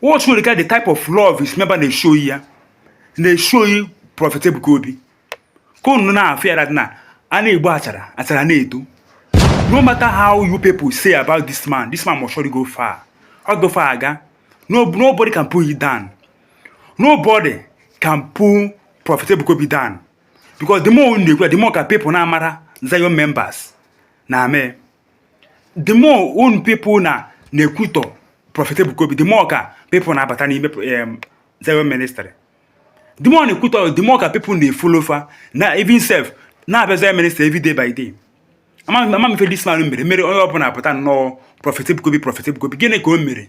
what should regard the type of love is member na-eshi oyi ya na-eshi oyi prọfet Ebuka Obi ka unu na-afụ ya na a na-egbu achara achara na-eto no matter how you people say about this man this man must surely go far ọ go far aga no nobody can pull it down nobody can pull prọfet Ebuka Obi down because the more unu na-ekwu the more ka people na-amara Zion members na-ame the more unu people na na-ekwutọ Prophet Ebuka Obi the more ka people na-abata n'ime um, Zion ministry the more na-ekwutọ the more ka people na-efolo fa na even self na-abịa Zion ministry every day by day ama m ife this man mere mere onye ọbụla apụta nnọọ Prophet Ebuka Obi Prophet Ebuka Obi gịnị ka o mere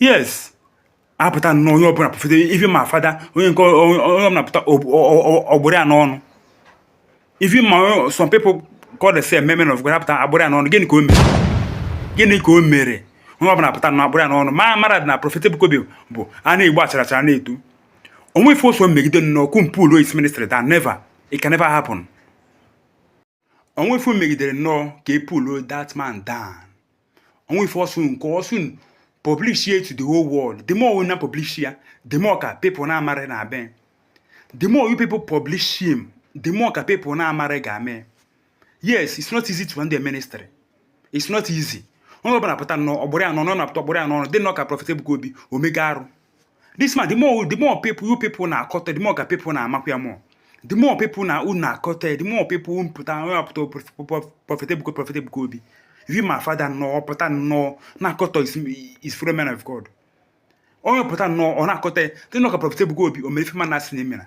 yes apụta nnọọ onye ọbụla prophet even ma fada onye nke onye ọbụla pụta ọ kpụrụ ya n'ọnụ even ma some people call themselves men of God apụta akpụrụ ya n'ọnụ gịnị ka o mere gịnị ka o mere onye ọbụla pụta na akpụrụ ya n'ọnụ ma mara dị na Prophet Ebuka Obi bụ a na-egbu achara achara na-eto onwe ife ọ sọ megide nnọọ ka unu pull his ministry down never it can never happen onwe ife megidere nnọọ ka e pull that man down onwe ife ọ sọ nke ọ sọ publish ya to the whole world the more we na publish ya the more ka people na-amara na be the more you people publish him the more ka people na-amara ga-ame yes it's not easy to run the ministry it's not easy onye ọbụla pụta nnọọ ọ kpụrụ ya n'ọnụ na pụta ọ kpụrụ ya n'ọnụ dị nnọọ ka Prophet Ebuka Obi o mega arụ this man the more the more people you people na-akọtọ the more ka people na-amakwa ya more the more people na unu na-akọtọ the more people unu pụta onye apụta Prophet Ebuka Prophet Ebuka Obi even ma fada nnọọ pụta nnọọ na-akọtọ his fellow man of God onye pụta nnọọ ọ na-akọtọ ya dị nnọọ ka Prophet Ebuka Obi o mere ife ma na-asị na emera